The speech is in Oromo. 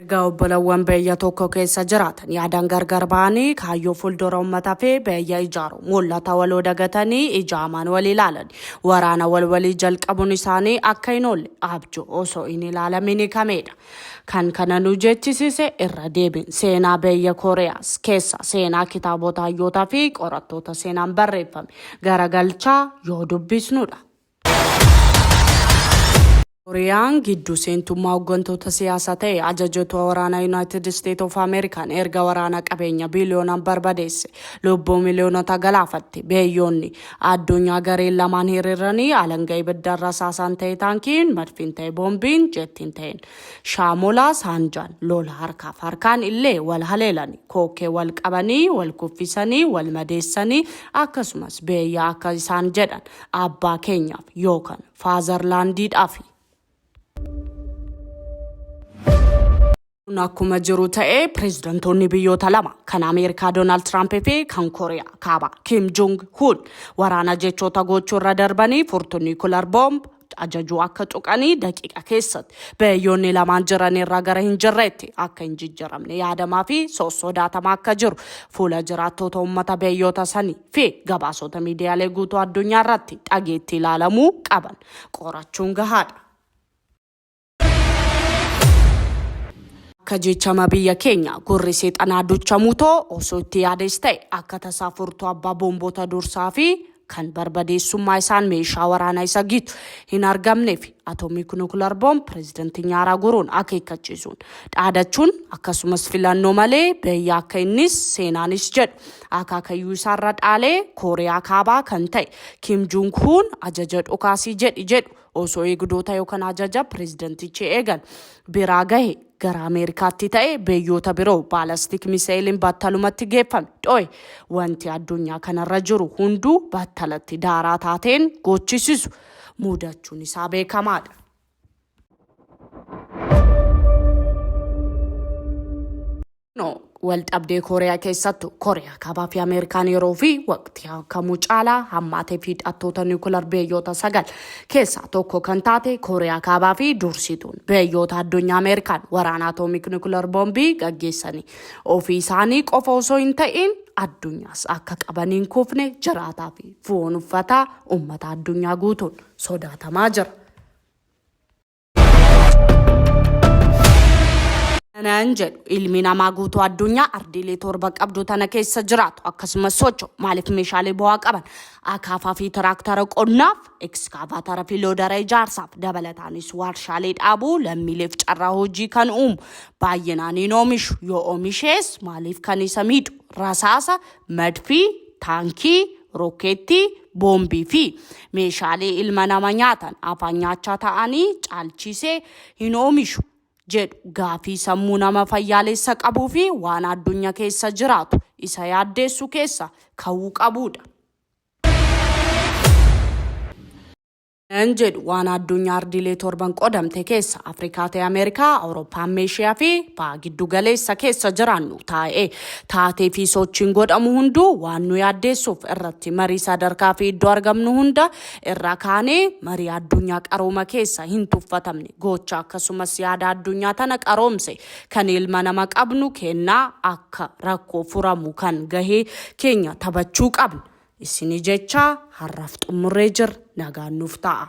Erga obbolawwan biyya tokko keessa jiraatan yaadan gargar ba'anii kaayyoo fuuldura ummata fi biyya ijaaru mul'ata waloo dagatanii ija amaan wal ilaalan waraana wal walii jalqabuun isaanii akka hin oolle abjuu osoo hin ilaalamin hikameedha. Kan kana nu jechisise irra deebiin seenaa biyya Kooriyaas keessa seenaa kitaabota hayyootaa fi qorattoota seenaan barreeffame garagalchaa yoo dubbisnudha. Kooriyaan gidduu seentummaa hooggantoota siyaasaa ta'e ajajoota waraanaa Yuunaayitid Isteet of Ameerikaan erga waraana qabeenya biiliyoonaan barbadeesse lubbuu miliyoonota galaafatte. Beeyyoonni addunyaa gareen lamaan hiriiranii alanga ibiddaan rasaasaan ta'e taankiin, madfiin ta'e boombiin, jettiin ta'een shaamolaa saanjaan lola harkaaf harkaan illee wal haleelani. Kookkee wal qabanii, wal kuffisanii, wal madeessanii akkasumas beeyyaa akka isaan jedhan Abbaa keenyaaf yookan faazarlaandiidhaafi. Kun akkuma jiru ta'ee pireezidantoonni biyyoota lama kan Ameerikaa Doonaald Tiraamp fi kan Kooriyaa kaaba Kim Jong Hun waraana jechoota gochuu irra darbanii furtuu niikular boomb ajajuu akka tuqanii daqiiqa keessatti biyyoonni lamaan jiran irraa gara hin jirreetti akka hin jijjiramne yaadamaa fi sossodaatamaa akka jiru fuula jiraattoota uummata biyyoota sanii fi gabaasota miidiyaalee guutuu addunyaa irratti dhageettii ilaalamuu qaban qorachuun gahaadha. Akka jechama biyya keenya gurri seexanaa duchamuu too osoo itti yaades ta'e akka tasaa furtuu abbaa boomboota dursaa fi kan barbadeessummaa isaan meeshaa waraanaa isa gitu hin argamnee fi atoomii nukular boom pireezidantii nyaaraa guruun akeekkachiisuun dhaadachuun akkasumas filannoo malee biyya akka innis seenaanis jedhu Akaakayyuu isaarra dhaalee Kooriyaa Kaabaa kan ta'e Kim Jung Huun ajaja dhokaasii jedhi jedhu osoo eegdoota yookaan ajaja pireezidantichi eegan biraa gahe gara Ameerikaatti ta'e biyyoota biroo baalastik miseeliin battalumatti geeffame dho'e wanti addunyaa kanarra jiru hunduu battalatti daaraa taateen goochisisu muudachuun isaa beekamaadha. No, wal dhabdee Kooriyaa keessattu Kooriyaa kaabaa fi Ameerikaan yeroo fi waqtii kamuu caalaa hammaatee fi hidhattoota niwukilar biyyoota sagal keessaa tokko kan taate Kooriyaa kaabaa fi dursituun biyyoota addunyaa Ameerikaan waraana atoomik niwukilar boombii gaggeessanii ofii isaanii qofa osoo hin ta'in addunyaas akka qabaniin kufne jiraataa fi foon uffataa uummata addunyaa guutuun sodaatamaa jira. nan jedhu ilmi namaa guutuu addunyaa ardiilee torba qabdu tana keessa jiraatu akkasumas socho maaliif meeshaalee bu'aa qaban akaafaa fi tiraaktara qonnaaf ekskaavaatara fi loodara ijaarsaaf dabalataanis warshaalee dhaabuu lammiileef carraa hojii kan uumu baay'inaan hin oomishu yoo oomishees maaliif kan isa miidhu rasaasa Madfii, taankii, rokkeettii, boombii fi meeshaalee ilma nama nyaatan afaan nyaachaa ta'anii caalchiisee hin oomishu jedhu gaafii sammuu nama fayyaalessa qabuu fi waan addunya keessa jiraatu isa yaaddeessu keessa ka'uu qabuudha. N jedhu waan addunyaa ardiilee torban qodamte keessa Afrikaa ta'e Ameerikaa, Awurooppaa amma Eeshiyaa fi baha giddu galeessa keessa jiraannu taa'ee taatee fi sochiin godhamu hunduu waan nu yaaddeessuuf irratti marii sadarkaa fi iddoo argamnu hunda irraa kaanee marii addunyaa qarooma keessa hin tuffatamne gocha akkasumas yaada addunyaa tana qaroomse kan ilma nama qabnu kennaa akka rakkoo furamu kan gahee keenya taphachuu qabna. Isini jechaa harraf xummurree jirr nagaan nuuf ta'a.